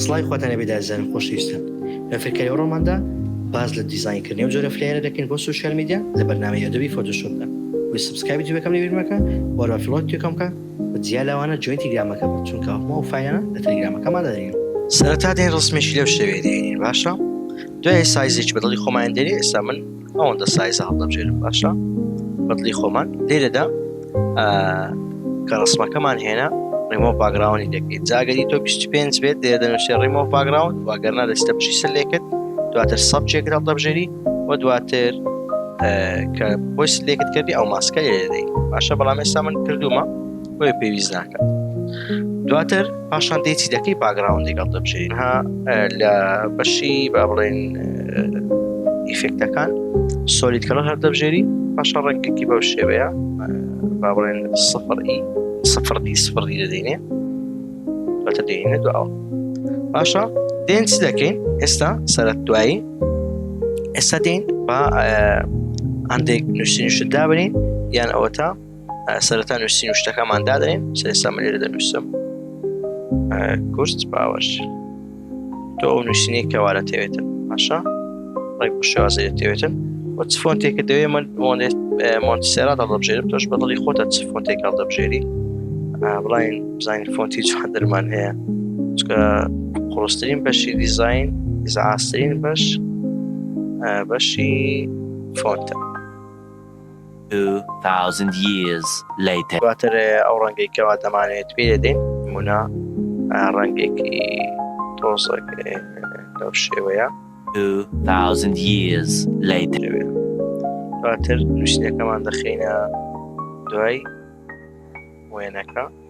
سڵاوی خواتان لەبێ دازیزانم خۆشەویستان لە فێرکاری ئەوڕۆماندا باز لە دیزاین کردنی و جۆرە فلەیەرە دەکەین بۆ سوشیال میدیا لە بەرنامەی ئەدۆبی فۆتۆشۆپدا وی سبسکرایبی جوێکەم لێ بیرمەکە وەرا فلۆت توێکەم بکە بە جیا لەوانە جوێن تیلگرامەکە بە چونکە هەموو ئەو فایلانە لە تەلگرامەکەمان دەدەین سەرەتا دێن ڕسمێکی لەو شێوەیە دێنین باشە دوای سایزێکی بەدڵی خۆمان دێنین ئێستا من ئەوەندە سایزە هەڵدەبژێرم باشە بەدلی خۆمان لێرەدا کە ڕسمەکەمان هێنا ڕیمۆ باگراونی دەکەیت جاگەری تۆ 25 بێت لێ دەنووسێ ڕیمۆ باگراون واگەرنا دەستە بژی سەر لێکرد دواتر سەبجێک هەڵدەبژێری و دواتر کە بۆی سلێکت کردی ئەو ماسکە لێدەی باشە بەڵام ئێستا من کردومە بۆیە پێویست ناکات دواتر پاشان دێتی دەکەی باگراون لەگەڵ دەبژێن ها لە بەشی با بڵێن ئیفێکتەکان سۆلیت کەڵە هەر دەبژێری پاشا ڕێکێکی بەو شێوەیە با بڵێن سفر ئی سفر دی سفر دی دەدەینێ بەتە دێنێ دواوە باشە دێن چ دەکەین ئێستا سەرەت دوایی ئێستا دێن با هەندێک نووسین شدا بنین یان ئەوەتا سەرەتا نووسین و شتەکەمان دادەین سێستا من لێرە دەنووسم کورس باوەش تۆ ئەو نووسینی کەوارە تێوێتن باشە ڕێک شێوازە تێوێتن وە چ فۆنتێکە دەوێ من مۆنتسێرا دەڵبژێرم تۆش بەدڵی خۆتە چ فۆنتێک هەڵ دەبژێری بڵین بزانین فۆنتی چ دەرمان هەیە چکە قڕسترین بەشی دیزین ئیزعاسترین بەش بەشی فۆنتە Two thousand years later. دواتر ئەو ڕەنگەی کەوا دەمانەوێت پێی دەدەین. نموونە، ڕەنگێکی تۆزێک لەو شێوەیە. Two thousand years later. دواتر نووسینەکەمان دەخەینە دوای وێنەکە.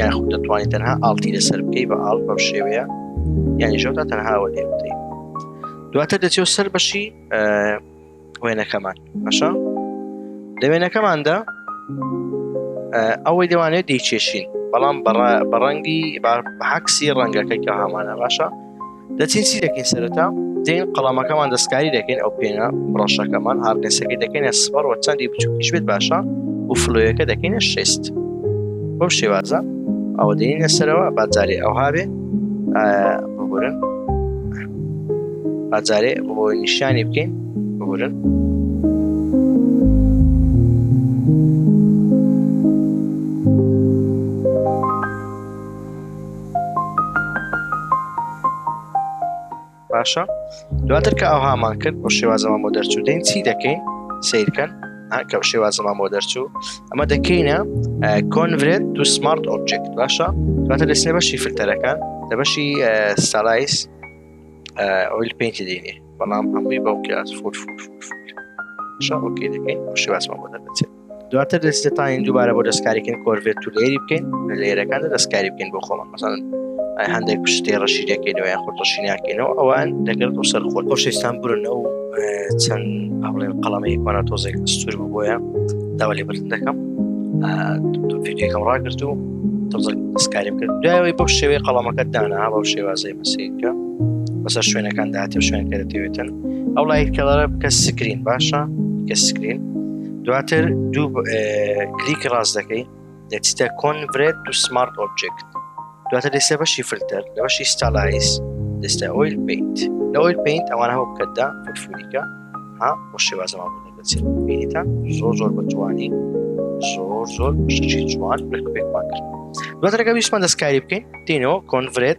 یاخود دەتوانانی تەنها ئاڵتی لەسەر بکەی بە ئاڵ بەم شێوەیە یانیژەوتا تەنهاوە لێ بدەین دواتر دەچێت سەر بەشی وێنەکەمان بەشە لە وێنەکەماندا ئەوەی دەوانێت دەیچێشین بەڵام بەڕەنگی بەعکسی ڕەنگەکەی کە هەمانە باشە دەچین چی دەکەین سەرەتا دێن قەڵامەکەمان دەستکاری دەکەین ئەو پێنە ڕەشەکەمان هاردنسەکە دەکەینە سپەر و چەندی بچووکیش بێت باشە و فلۆیەکە دەکەینە شست بەم شێوازە ئەوە دێنە سەرەوە بازارێ ئەو هاێ بگورن بازارێ بۆ نیشانی بکەین بگورن باشە دواتر کە ئەوهامان کرد بۆ شێوازەمان بۆ دەرچوو دەین چی دەکەین سیرکەن کە شێوازەمان بۆ دەرچوو ئەمە دەکەینە کۆنڤێت تو سمارت ئۆبجکت باشە دواتر دەسێ بەشی فلتەرەکان لە بەشی سالایس ئۆیل پینتی دێنێ بەڵام هەمووی بەوکە فۆر فۆر فۆر شەڕۆکەی دەکەین شێوازمان بۆ دەبێت دواتر دەستێتانین دووبارە بۆ دەستکاریکن کۆرڤێت تو لێری بکەین لە لێرەکاندا دەستکاری بکەین بۆ خۆمان مەسان هەندێک پشتێ ڕەشی دەکەینەوە یان خۆ ڕەشی ناکەینەوە ئەوان دەگرن و سەر خۆت خۆشەستان برن ئەو چەند هەڵێن قەڵەمەیەکمانە تۆزێک سوور بۆیە داوا لێ بردن دەکەم فیدیەکەم ڕاگرت و تۆزێک دەستکاریم کرد دوایەوەی بەو شێوەی قەڵەمەکە دانا بەو شێوازەی بەسیکە بەسەر شوێنەکان داهاتێ شوێن کەرەتەوێتن ئەو لایت کەڵەرە بکە سکرین باشە کە سکرین دواتر دوو کلیکی ڕاست دەکەی دەچیتە کۆنڤرێت دو سمارت ئۆبجێکت دواتر دەسێ بەشی فلتەر لە بەشی ستالایز دەستە ئۆیل پینت لە ئۆیل پینت ئەوان هەوە بکەتدا فوتفولیکە ها بۆ شێوازەوان بوو دەچێت بینیتان زۆر زۆر بە جوانی زۆر زۆر شتی جوان بەکوێکمان کرد دواترەکە ویشمان دەستکاری بکەین دینەوە کۆنڤرێت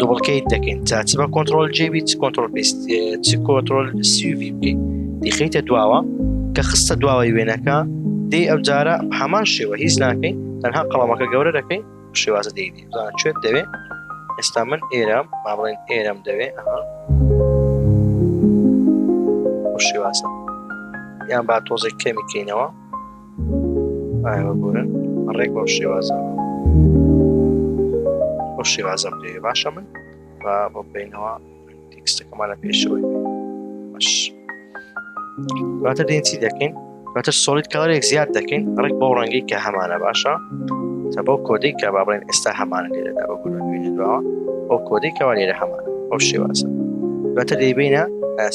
دوبڵکەیت دەکەین تا چ بە کۆنتترۆل جێبی چ کۆنتترۆل پێست چ کۆنتترۆل سیوی بکەین دیخیتە دواوە کە خستە دواوەی وێنەکە دی ئەو جارە هەمان شێوە هیچ ناکەین تەنها قەڵەمەکە گەورە دەکەین شێوازە دی شوێت دەوێت ئێستا من ئێرەم با بڵێن ئێرەم دەوێت شێوازە یان با تۆزێک کەمیکەینەوە ئایوە بورن ڕێک بەو شێوازە بۆ شێوازە بێ باشە من و بۆ بینەوە تێکستەکەمان لە پێشەوەی باش دواتە دێن چی دەکەین دواتە سۆلیت کارێک زیاد دەکەین ڕێک بۆ ڕەنگی کە هەمانە باشە تە بۆ کۆدەی کە با بڵێن ئێستا هەمانە لێرەدا بە گوون بینێت دواوە بۆ کۆدەی کەوا لێرە هەمانە ئەو شێوازە دواتە دەیبینە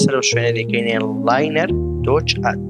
سەر شوێنە دەکەینێ لاینەر دۆچ ئەت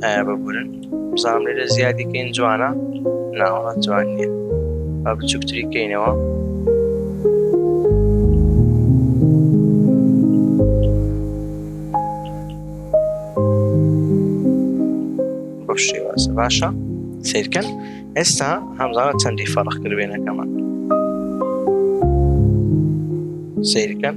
ببورن بزانم لێرە زیادی کەین جوانە ناوە جوان نیە با بچووکتری کەینەوە بەم شێوازە باشە سیرکەن ئێستا هەمزانە چەندی فەرق کردێنەکەمان سیرکەن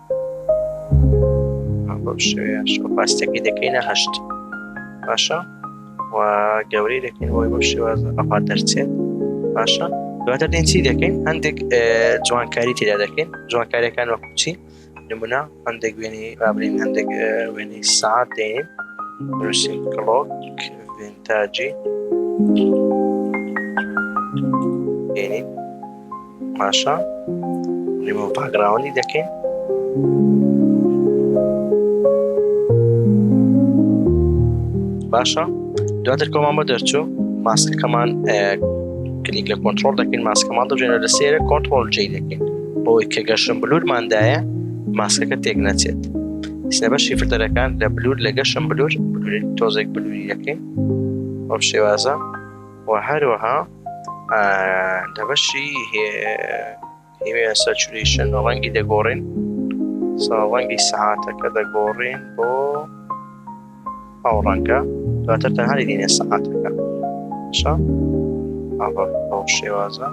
بەو شێوەیە شکۆپاستەکەی دەکەینە هەشت باشە و گەورەی دەکەین بۆی بەو شێوە ئەپا دەرچێت باشە دواتر دێن چی دەکەین هەندێک جوانکاری تێدا دەکەین جوانکاریەکان وە کوچی نمونە هەندێک وێنی رابرین هەندێک وێنی ساعت دێن روسین کلۆک ڤنتاجی دێنین باشە ریمۆ باگراوەندی دەکەین باشە دواتر کۆمان بە دەرچوو ماسکەکەمان کلیک لە کۆنتترۆل دەکەین ماسکەمان دەژێنە لە سێرە کۆنتترۆل جێ دەکەین بۆی کە گەشم بلوورماندایە ماسکەکە تێک نەچێت سێ بەشی فلتەرەکان لە بلوور لە گەشم بلوور تۆزێک بلووری دەکەین ئەو شێوازە و هەروەها لە بەشی هێوێن سەچوریشن ڕەنگی دەگۆڕین ڕەنگی سەعاتەکە دەگۆڕین بۆ ئەو ڕەنگە دواتر تەنهاری دینێ سەعاتەکە شە ئەو شێوازە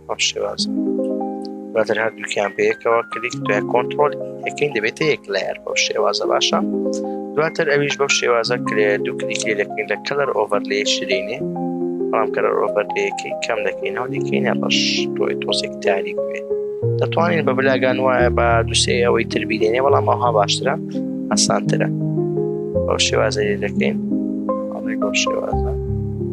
بەم شێوازە دواتر هەردووکیان بەیەکەوە کلیک دوای کۆنتترۆل یەکەین دەبێتە یەک لایەر بەو شێوازە باشە دواتر ئەویش بەو شێوازە کرێ دوو کلیکی دەکەین لە کەلەر ئۆڤەر لێ شرینێ بەڵام کەلەر ئۆڤەر لەکەی کەم دەکەینەوە دیکەینە بەش تۆی تۆزێک تاریک بێ دەتوانین بە بلاگان وایە بە دوسێ ئەوەی تربیێنێ بەڵام ئەوها باشترە ئاسانترە بەو شێوازە دەکەین بەو شێوازە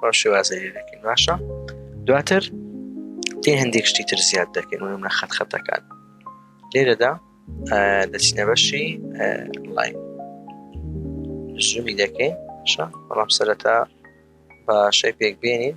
بەم شێوازە لێ دەکەین باشە دواتر تێ هەندێک شتی تر زیاد دەکەین و منە خەت خەتەکان لێرەدا دەچینە بەشی لاین زومی دەکەین بەڵام سەرەتا بە شەی پێک بێنین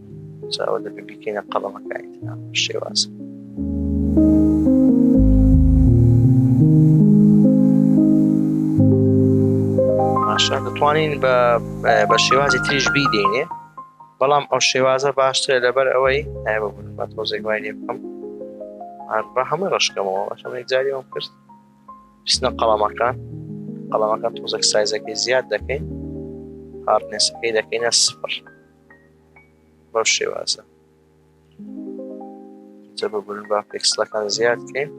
جاوە دەبێ بیکەینە قەڵەمەکانی ترا شێوازە باشە دەتوانین بە بە شێوازی تریش بیدەینێ بەڵام ئەو شێوازە باشترە لەبەر ئەوەی بە تۆزێک وای لێ بکەم بە هەمە ڕشکەمەوە بەشەمەێک جاری ئەوم کرد پسنە قەڵامەکان قەڵامەکان تۆزێک سایزەکەی زیاد دەکەین هاردنێسەکەی دەکەینە سفر بەم شێوازە جە ببورن با پێکسلەکان زیاد بکەین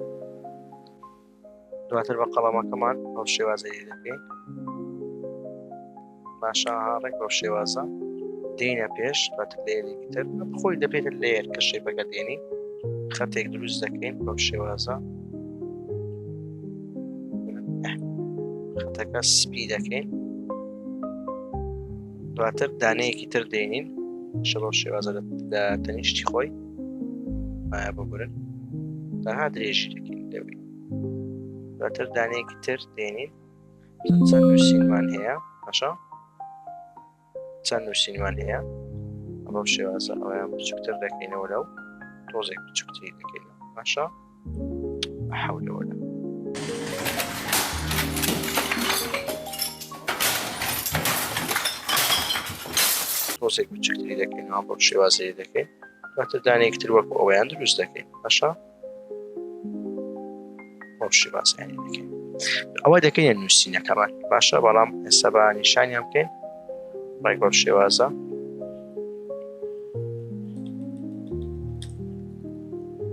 دواتر بە قەڵەمەکەمان بەم شێوازە دەکەین باشە ڕێک بەم شێوازە دێنە پێش بەتر لێرێکی تر خۆی دەبێت لێر کە شێپەکە دێنی خەتێک دروست دەکەین بەم شێوازە خەتەکە سپی دەکەین دواتر دانەیەکی تر دێنین شەڕۆ شێوازە لە تەنیشتی خۆی مایا بگورن تەها درێژی دەکەین دەبین دواتر دانەیەکی تر دێنین چەند نووسینمان هەیە باشە چەند نووسینمان هەیە ئەمە شێوازە ئەویان بچووکتر دەکەینەوە لەو تۆزێک بچووکتری دەکەین باشە حولەوەلا تۆزێک بچکتری دەکەین بۆ شێوازەیە دەکەین دواتر دانێکتر وەک ئەویان دروست دەکەین بەشە بۆ شێوازیانی دەکەین ئەوە دەکەین نووسینەکەمان باشە بەڵام ئێستا بە نیشانیان بکەین ڕێک بەم شێوازە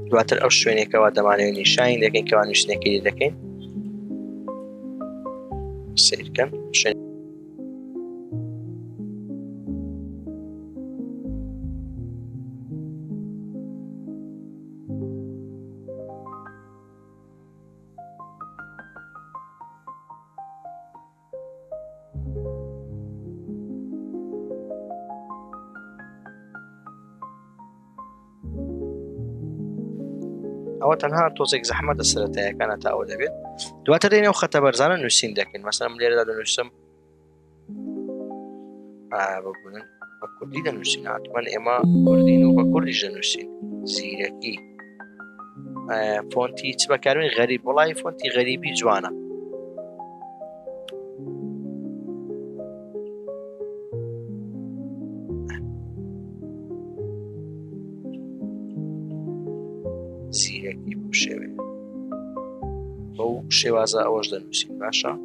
دواتر ئەو شوێنێکەوە دەمانەوە نیشانی دەکەین کەوا نووسنەکەی دەکەین سیرکەن شوێن ئەوە تەنها تۆزێک زەحمەتە سەتایەکانە تا ئەوە دەبێت دواتر دێنێ و خەتە بەرزانە نووسین دەکەین مەسەم لێرەدا دەنووسم ببوونن بە کوردی دەنووسین هاتوان ئێمە کوردین و بە کوردی دەنووسین زیرەکی فۆنتی چ بەکارین غەریب وڵی فۆنتی غەریبی جوانە زیرەکی بشێوێ بەو شێوازە ئەوەش دەنووسین باشە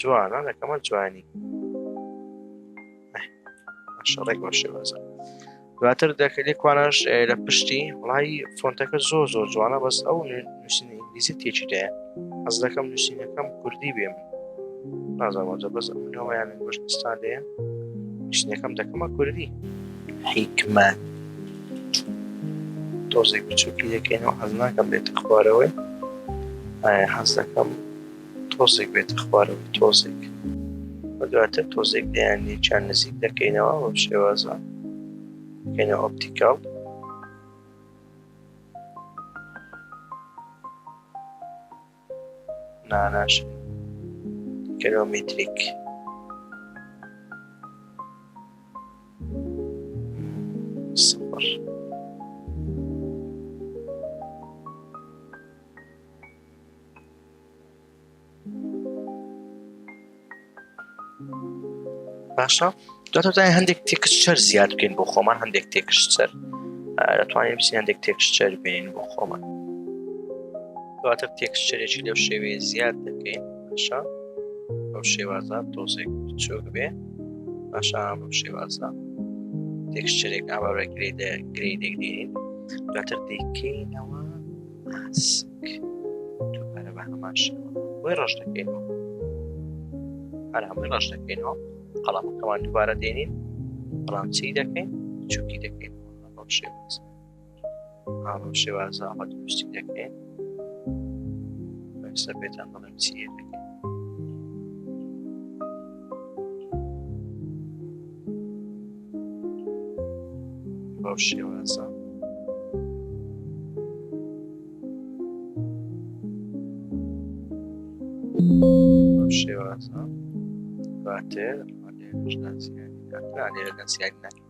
جوانە لەکەمە جوانی شەڕێک بە شێوازە دواتر دەکەلی کوانش لە پشتی وڵی فۆنتەکە زۆ زۆ جوانە بەس ئەو نووسین ئینگلیزی تێکی دەیە ئەز دەکەم نووسینەکەم کوردی بێم نازانجە بەس ئەویان گوشتستان دەیە نووسینەکەم دەکەمە کوردی حیکمە تۆزێک بچووکی دەکەینەوە حەز ناکەم بێتە خوارەوەی حەز دەکەم تۆزێک بێتە خوارەوەی تۆزێک و دواتر تۆزێک دەیان یەکیان نزیک دەکەینەوە بە شێوازە کەینە ئۆپتیکاڵ ناناش کەلۆمیتریک سفر باشە دواتای هەندێک تێکسچەر زیاد بکەین بۆ خۆمان هەندێک تێکسچەر دەتوانین بچین هەندێک تێکسچەر بین بۆ خۆمان دواتر تێکسچەرێکی لەو شێوەیە زیاد دەکەین باشە ئەو شێوازە تۆزێک چۆک بێ باشە بەم شێوازە تێکسچەرێک ئاوارە گرێدە گرێ دەگرین دواتر دەیکەینەوە ماسک دووبارە بە هەمان شێوە بۆی ڕەش دەکەینەوە هەر هەمووی ڕەش دەکەینەوە قەڵامەکەمان دووبارە دێنین بەڵام چی دەکەین چووکی دەکەین بەم شێواز بەم شێوازە ئەمە دروستی دەکەین سەر پێتان بڵێ بەو شێوازە بەو شێوازە باتێ ژنان سیانی دەکرانێ لە سیانی ناکرێت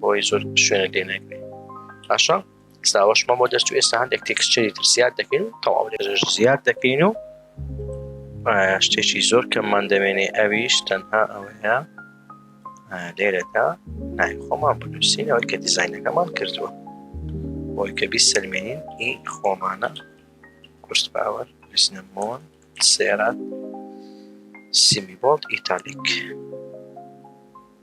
بۆی زۆر شوێنە لێ نەگرێ باشە ساوەش مەمۆ دەست و ئێستا هەندێک تێکسچری تر زیاد دەکەین و تەواو لێژ زیاد دەکەین و شتێکی زۆر کەممان دەمێنێ ئەویش تەنها ئەوەیە لێرەدا نای خۆمان بنووسین ئەوەی کە دیزینەکەمان کردووە بۆی کە بیست سلمێنین ئی خۆمانە کوشت باوەر بزنەمۆن سێرات سیمیبڵ ئیتالیک.